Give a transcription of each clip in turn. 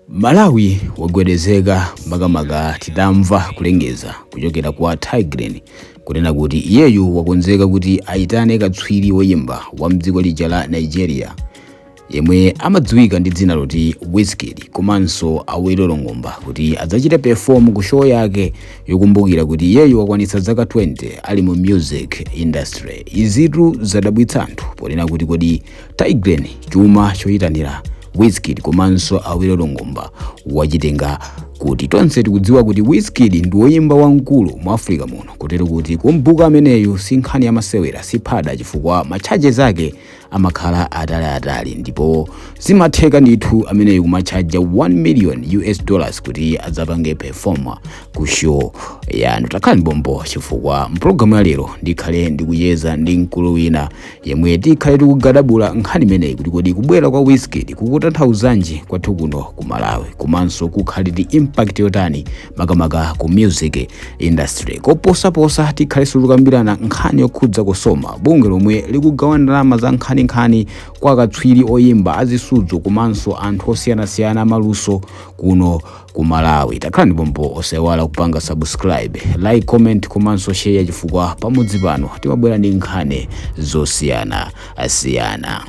Malawi wagwedezeka makamaka titamva kulengeza kuchokera kwa Tay Grin kunena kuti iyeyu wakonzeka kuti aitane katswiri woyimba wa mdziko lija la Nigeria yemwe amadziwika ndi dzina loti Wizkid komanso Awilo Longomba kuti adzachite perform ku show yake yokumbukira kuti iyeyu wakwanitsa zaka 20 ali mu music industry. Izitu zadabwitsa anthu ponena kuti kodi Tay Grin chuma choyitanira Wizkid komanso Awilo Longomba wachitenga kuti tonse tikudziwa kuti Wizkid ndi woyimba wamkulu mu Africa muno kotero kuti kum'buka ameneyu si nkhani ya masewera si phada chifukwa ma charges ake amakhala ataliatali ndipo zimatheka ndithu ameneyu kumatchaja 1 million US dollars kuti adzapange performa ku show yanu takhalani pompo chifukwa mpulogalamu ya lero ndikhale ndikucheza ndi mkulu wina yemwe tikhale tikugadabula nkhani imeneyi kuti kodi kubwera kwa Wizkid kukutanthauzanji kwathu kuno ku Malawi komanso kukhale ndi impact yotani makamaka ku music industry koposaposa tikhalenso tikukambirana nkhani yokhudza COSOMA bungwe lomwe likugawa ndalama za nkhaninkhani kwa akatswiri oyimba azisudzo komanso anthu osiyanasiyana amaluso kuno ku malawi takhalani pompo osaiwala kupanga subscribe like comment komanso share chifukwa pamudzi pano timabwera ndi nkhani zosiyanasiyana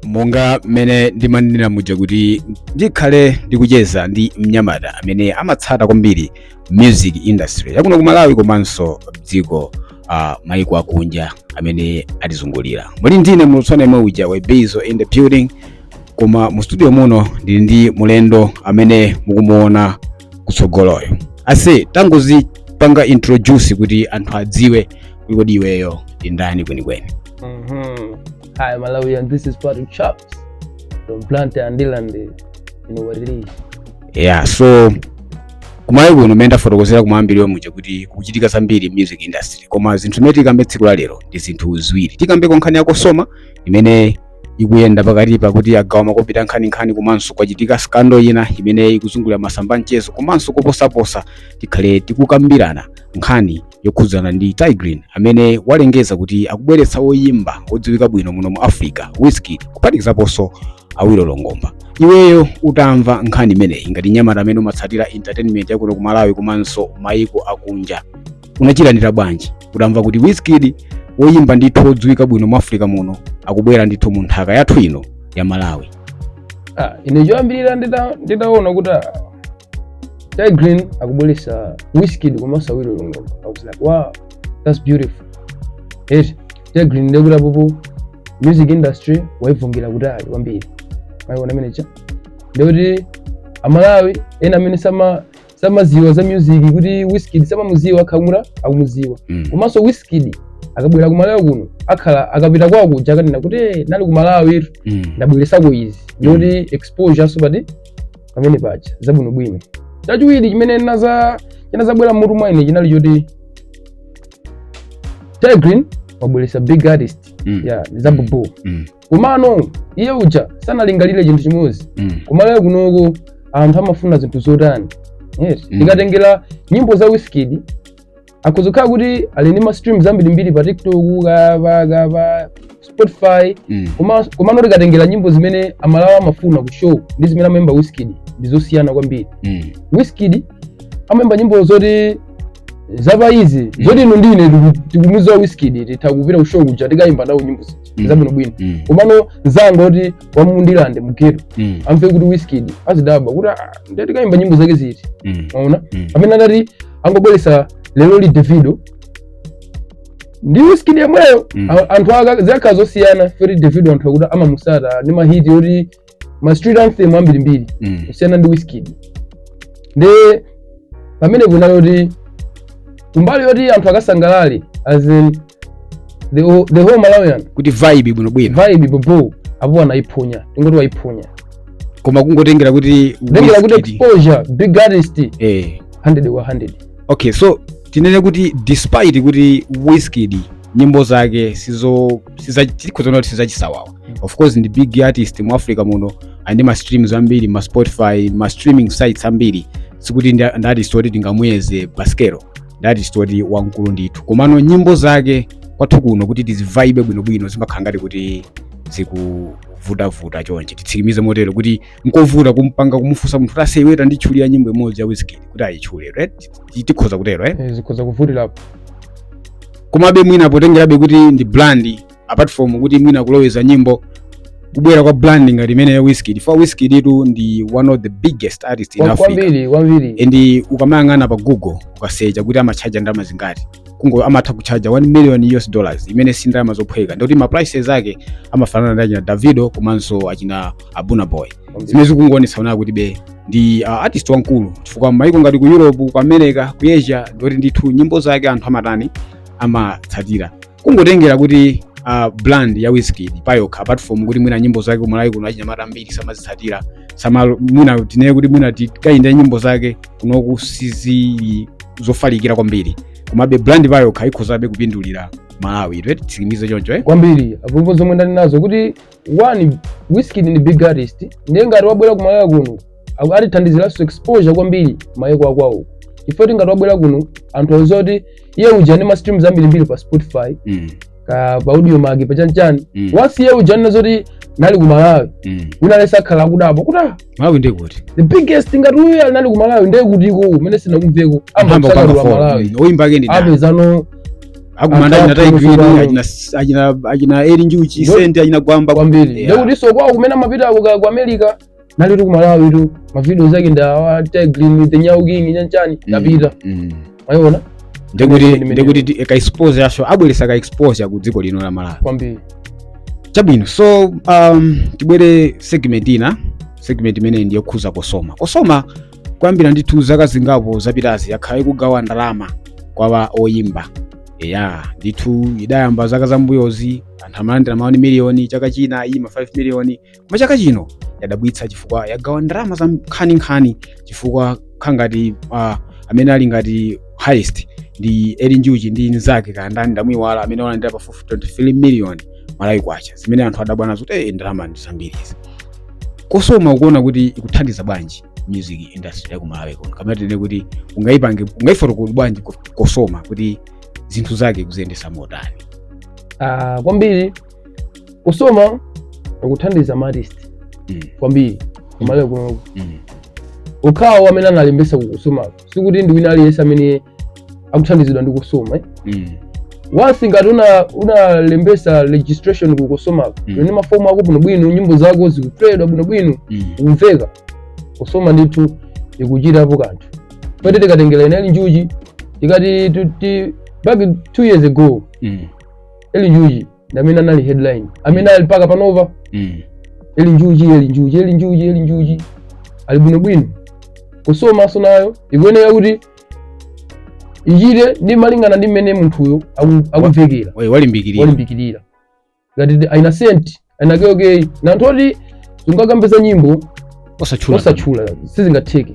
monga mmene ndimanenera muja kuti ndikhale ndikucheza ndi mnyamata amene amatsata kwambiri music industry yakuno ku malawi komanso dziko uh, maiko akunja amene atizungulira muli ndi ine muulutsi wanu yemwe uja webizo in the building koma mu studio muno ndili ndi mulendo amene mukumuona kutsogoloyo ase tangozipanga introduce kuti anthu adziwe kuti kodi iweyo ndi ndani kwenikweni Mm-hmm. Hi, Malawi, and this is Patrick Chops from Blantyre, Ndirande. You know what it is. yeah so kumalawi kuno mmene ndafotokozera kumayambiriro muja kuti kukuchitika zambiri mu music industry koma zinthu zimene tikambe tsiku la lero ndi zinthu ziwiri tikambeko nkhani ya COSOMA imene ikuyenda pakati pakuti agawa makobidi a nkhaninkhani komanso kwachitika scandal ina imene ikuzungulira masamba a mchezo komanso koposaposa tikhale tikukambirana nkhani yokhudzana ndi Tay Grin amene walengeza kuti akubweretsa woyimba wodziwika bwino muno mu Africa Wizkid kuphatikizaponso Awilo Longomba. Iweyo utamva nkhani imeneyi ngati mnyamata amene umatsatira entertainment ya kuno ku Malawi komanso mayiko akunja unachilandira bwanji utamva kuti Wizkid woyimba ndithu wodziwika bwino mu Africa muno akubwera ndithu mu nthaka yathu ino ya Malawi? Ah, ine choyambirira ndita- nditaona kuti ah, Tay Grin akubweresa Wizkid komanso Awilo Longomba. I was like, wow, that's beautiful. Eti, Tay Grin ndekuti apopo music industry waivungira kutali kwambiri. Maiona amene cha. Ndekuti amalawi ena amene sama samaziwa za music kuti Wizkid samamuziwa akhala kuti akumuziwa. Mm. Komanso Wizkid akabwera ku Malawi kuno akhala akapita kwawo kuja akanena kuti "Eh, nali ku Malawi tu Mm. ndabweresako izi. Ndikuti exposure so pati pamene paja zabwinobwino chachiwiri chimene chinazabwera mmutu mwa ine chinali choti Tay Grin wabweretsa big artist mm. yeah, zabobo mm. komano iye uja sanalingalire chinthu chimodzi mm. ku Malawi kunoko anthu amafuna zinthu zotani yes. mm. tikatengera nyimbo za Wizkid akhoza kukhala kuti ali ndi ma streams ambirimbiri pa tiktok ka pa ka pa spotify Mm. Koma- komano tikatengera nyimbo zimene amalawi amafuna ku show ndi zimene amaimba wizkid ndi zosiyana kwambiri Mm. wizkid amaimba nyimbo zoti zapa izi zoti inu ndine tiku- tikumuziwa wizkid titha kupita ku show kuja tikaimba nawo nyimbo zija Mm. zabwinobwino Mm. komano mzanga oti wa mu Ndirande mu ghetto Mm. amve kuti wizkid azidabwa kuti "Ah, ndiye tikaimba nyimbo zake ziti Mm. maona Mm. amene adati angobweresa leroli davido ndi wizkid yemweyo Mm. A- anthu zikanakhala zosiyana chifukwa choti davido anthu akuti amamusata ndi ma hit oti ma street anthem ambirimbiri Mm. kusiyana ndi wizkid ndi pamene kunali kuti kumbali yoti anthu akasangalale as in the whole, the whole malawian kuti avaibe bwino bwino vibe bobo apo anayiphonya tingoti wayiphonya koma kungotengera kuti tengera kuti Wizkid- exposure big artist eh 100 wa 100 okay so tinene kuti despite kuti Wizkid nyimbo zake sizo si- tikhoza kunena kuti sizachisawawa of course ndi big artist mu africa muno ali ndi ma streams ambiri ma spotify ma streaming sites ambiri sikuti ndi ndi artist oti tingamuyeze pa sikelo ndi artist oti wamkulu ndithu komano nyimbo zake kwathu kuno kuti tizivaibe bwinobwino zimakhala ngati kuti zikuvutavuta chonchi titsimikize motero kuti nkovuta kumpanga kumufunsa munthu kuti aise iwe tanditchulira nyimbo imodzi ya wizkid kuti ayitchule right Ti- tikhoza kutero eh? Eh, zikhoza kuvutirapo komabe mwina potengerabe kuti ndi brand apart from kuti mwina kuloweza nyimbo kubwera kwa brand ngati imene ya Wizkid for Wizkid tu ndi one of the biggest artist in Kwa- Africa kwambiri kwambiri and ukamayang'ana pa google ukasecha kuti amatchaja ndalama zingati kungo amatha kutchaja 1 million us dollars imene si ndalama zophweka ndikuti ma prices ake amafanana ndi achina davido komanso achina Burna Boy zimene zikungoonetsa kunena kutibe ndi uh, artist wankulu chifukwa maiko ngati ku europe ku america ku asia ndikuti ndithu nyimbo zake anthu amatani amatsatira kungotengera kuti uh, brand ya Wizkid payokha apart from kuti mwina nyimbo zake kumalawi kuno achinyamata ambiri samazitsatira sama mwina tinene kuti mwina tikayenda nyimbo zake kunoku sizili zofalikira kwambiri komabe brand payokha ikhozabe kupindulira malawi eti titsimikize choncho eh? kwambiri apapa zomwe ndali nazo kuti one Wizkid ndi big artist ndiye ngati wabwera ku Malawi kuno aku- atithandiziranso exposure kwambiri mayiko akwawo chifukwa choti ngati wabwera kuno anthu auza kuti iye uja ali ndi ma streams ambirimbiri pa spotify Mm, ka pa Audiomack pa chanichani Mm. once iye uja anena zoti nali ku malawi mm. wina lesa akhala akudabwa kuti ah malawi ndi kuti the biggest ngati uyu anali ku malawi ndiye kuti iko umene sinakumveko mpamba amapita kukakhala kupanga wa malawi fo oyimba ake ndi ndani apezano akumana achina Anthu aphunzira Tay Grin bwino. achina achina achina eli njuchi Ndo- Saint achina gwamba kwambiri Yeah. ndekuti so kwawo kumene amapita uko ka- ku america nalitu ku malawitu mavidios ake ndi awa Tay Grin the nyau king ndi chanichani Mm, ndapita mm. mwayiona ndikuti Imene- imene- ndikuti ti- ka exposure for sure abweresa ka exposure ku dziko lino la malawi kwambiri chabwino so um, tibwere segment ina segment imene ndi yokhudza Cosoma Cosoma kuyambira ndithu zaka zingapo zapitazi yakhala ikugawa ndalama kwa ba oyimba eya ndithu idayamba zaka zambuyozi anthu amalandira ma one miliyoni chaka china ma 5 miliyoni koma chaka chino yadabwitsa chifukwa yagawa ndalama za nkhaninkhani chifukwa kukhala ngati uh, amene ali ngati highest ndi eli njuchi ndi nzake kaya ndani ndamuiwala amene walandira pafupi 23 million malawi kwacha zimene anthu adabwa nazo kuti eh, ndalama ndi zambiri izi Cosoma ukuona kuti ikuthandiza bwanji music industry yaku malawi kuno kapena tinene kuti ungaipange ungaifotokoze bwanji ko- Cosoma kuti zinthu zake ikuziyendesa motani Ah, kwambiri Cosoma ikuthandiza maartist Mm. kwambiri kumalawi kuno Mm. okhawo amene analembesa ku Cosoma sikuti ndi wina aliyense amene akuthandizidwa ndi Cosoma eh? Mm. once ngati una- unalembesa registration ku Cosoma Mm. ndi mafomu ako bwinobwino nyimbo zako zikupleyedwa bwinobwino Mm. kumveka Cosoma ndithu ikuchitapo kanthu poti tikatengera china eli njuchi tikati titi back two years ago Mm. eli njuchi ndamene anali headline amene ali mpaka panopa mm. eli njuchi eli njuchi eli njuchi eli njuchi ali bwinobwino Cosomanso nayo ikuyenera kuti ichite ndi malingana ndi mmene munthuyo aku- akumvekera Oye, walimbikirira walimbikirira ngati achina Saint achina Kell Kay ndi anthu oti sungakambe za nyimbo osawatchula osawatchula sizingatheke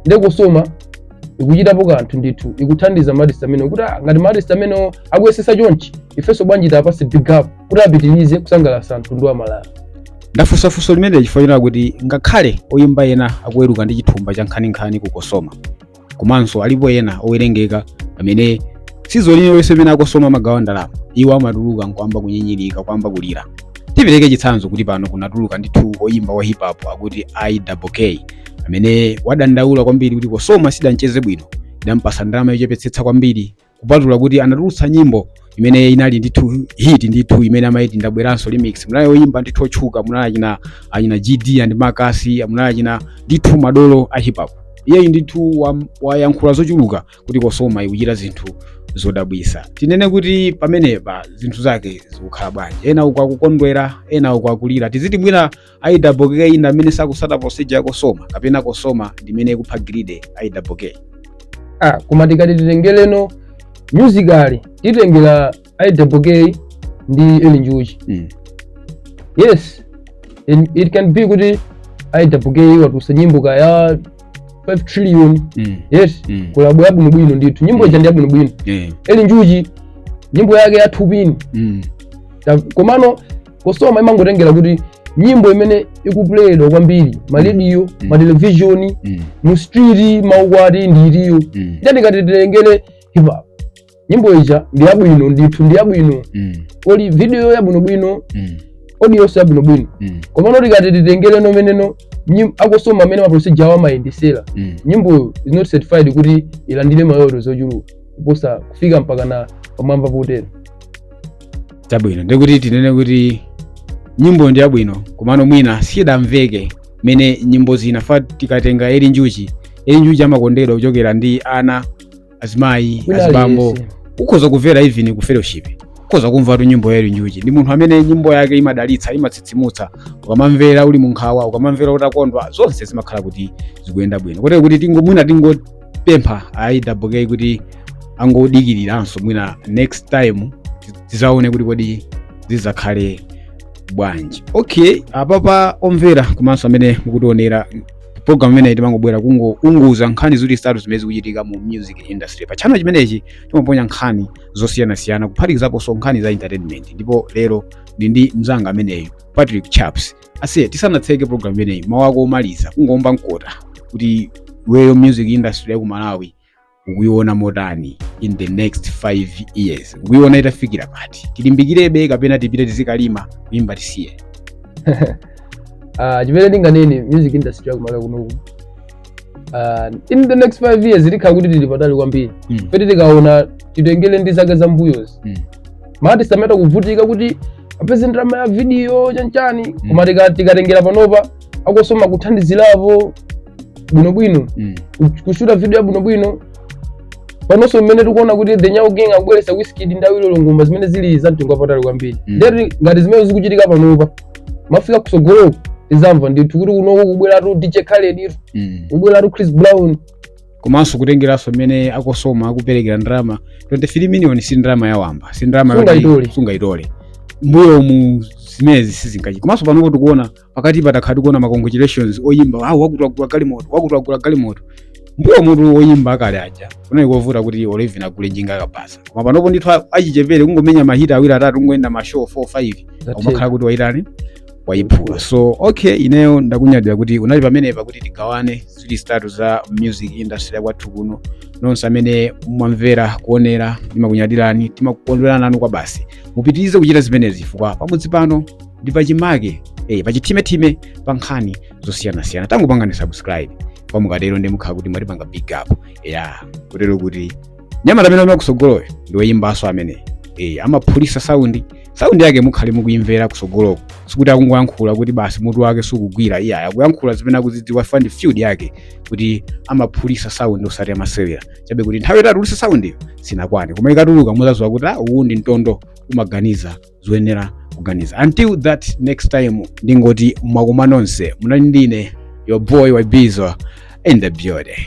nde Cosoma ikuchitapo kanthu ndithu ikuthandiza maartist amene kuti ah, ngati maartist amene akuyesesa chonchi ifenso bwanji tiwapase big up kuti apitirize kusangalatsa mtundu wa malawi ndafunsa funso limeneli chifukwa chonena kuti ngakhale oyimba ena akuweruka ndi chithumba cha nkhaninkhani ku Cosoma komanso alipo ena owerengeka amene si onse mmene a kosoma amagawa ndalama iwo amatuluka nkwamba kunyinyirika kwamba kulira tipereke chitsanzo kuti pano kunatuluka ndithu oyimba wa hip hop akuti iwk amene wadandaula kwambiri kuti kosoma sidamcheze bwino idampasa ndalama yochepetsetsa kwambiri kupatula kuti anatulutsa nyimbo imene inali ndithu hit ndithu imene amaiti ndabweranso remix munali oyimba ndithu otchuka munali achina gd and makasi munali achina ndithu madolo a hip hop iyeyu ndithu wayankhula zochuluka kuti kosoma ikuchita zinthu zodabwisa tinene kuti pamenepa zinthu zake zikukhala bwanji ena uku akukondwera ena uku akulira tiziti mwina iwk ndi amene sakutsata procedure ya kosoma kapena kosoma ndimene ikupha grade iwk ah koma tikati titengereno musically titengere iwk ndi eli njuchi mm. yes it, it can be kuti iwk watulutsa nyimbo kaya 5 trillion mm. yes mm. kolabo yabwino bwino ndithu nyimbo ija ndi yabwino bwino yeah. eli njuchi nyimbo yake ya thupini mm. komano kosoma imangotengera kuti nyimbo imene ikuplayedwa kwambiri m'marediyo mm. m'matelevishoni mm. mu street m'maukwati ndi itiyo mm. nde tikati titengere hip hop nyimbo ija ndi yabwino ndithu ndi yabwino mm. kolo video yabwinobwino mm. audio yonse yabwinobwino mm. komano tikati titengere no mmene nyim- akosoma mmene maprocedure awo amayendetsera Mm. nyimboyo is not certified kuti ilandire ma royalty zochuluka kuposa kufika mpaka na pamwamba potero chabwino ndikuti tinene kuti nyimbo ndi yabwino komano mwina sidamveke mene nyimbo zinafa tikatenga eli njuchi eli njuchi amakondedwa kuchokera ndi ana azimayi azibambo ukhoza kumvera even ku fellowship ukhoza kumvatu nyimbo ya eli njuchi ndi munthu amene nyimbo yake imadalitsa imatsitsimutsa ukamamvera uli munkhawa ukamamvera utakondwa zonse zimakhala kuti zikuyenda bwino kotero kuti tingo mwina tingo pempha aiwk kuti angodikiriranso mwina next time tizaone kuti kodi zizakhale bwanji okay apapa omvera komanso amene mukutionera program imeneyi timangobwera kungounguza nkhani zitatu zimene zikuchitika mu music industry pa channel chimenechi timaponya nkhani zosiyanasiyana kuphatikizaponso nkhani za entertainment ndipo lero ndi ndi mzanga ameneyu patrick chaps aise tisanatseke program imeneyi mawu ako omaliza kungoomba mkota kuti iweyo music industry ya ku malawi ukuiona motani in the next 5 years ukuiona itafikira pati tilimbikirebe kapena tipite tizikalima kuimba tisiye Ah, chimene ndinganene music industry yakumalawi kunoku ah, in the next five years tikhala kuti tili patali kwambiri Mm. chifukwa tikaona titengere ndi zaka zambuyozi Mm. ma artist ameta kuvutika kuti apeze ndalama ya video chanchani koma tika- tikatengera panopa a COSOMA kuthandizirapo bwinobwino Mm. ku- kushuta video ya bwinobwino panonso mmene tikuona kuti the nyau gang akubweretsa wizkid ndi awilo longomba zimene zili za mtengo wapatali kwambiri Mm. ndiye kuti ngati zimene zikuchitika panopa mafika kusogoloko tizamva ndithu kuti kunoko kubweratu dj khaled Mm. kubweratu chris brown komanso kutengeranso mmene a COSOMA akuperekera ndalama 23 million si ndalama yawamba si ndalama yoti Sungayitole. sungayitole mbuyomu zimenezi sizingachi komanso panopo tikuona pakatipa takhala tikuona ma congratulations oyimba wakuti wagula galimoto wakuti wagula galimoto mbuyomutu oyimba akale aja kunali kovuta kuti olevin agule njinga yakabasa koma panopo ndithu a- achichepere kungomenya ma hit awiri atatu kungoyenda ma show 4 5 umakhala kuti waitani wayiphula so okay ineyo ndakunyadira kuti unali pamenepa kuti tigawane zili zitatu za music industry yakwathu kuno nonse amene mwamvera kuonera ndimakunyadirani timakukondwerana nanu kwabasi mupitirize kuchita zimenezi chifukwa pamudzi pano ndi pachimake eh, pachithimethime pa nkhani zosiyanasiyana tangopangani subscribe kwa mukatero ndiye mukhala kuti mwatipanga big up ya kutero kuti mnyamata ameneyu amene kusogoloyo ndi woyimbanso amene eh, amaphulitsa saundi saundi yake mukhale mukuimvera kusogoloko sikuti akungoyankhula kuti basi mutu wake sukugwira iye akuyankhula zimene akuzidziwa from the field yake kuti amaphulitsa saundi osati amasewera chabe kuti nthawi yoti atulise saundiyo sinakwane koma ikatuluka muzaziwa kuti ah, uwu ndi mtondo umaganiza zoyenera kuganiza until that next time ndingoti mwakoma nonse munali ndine your boy wabizo in the building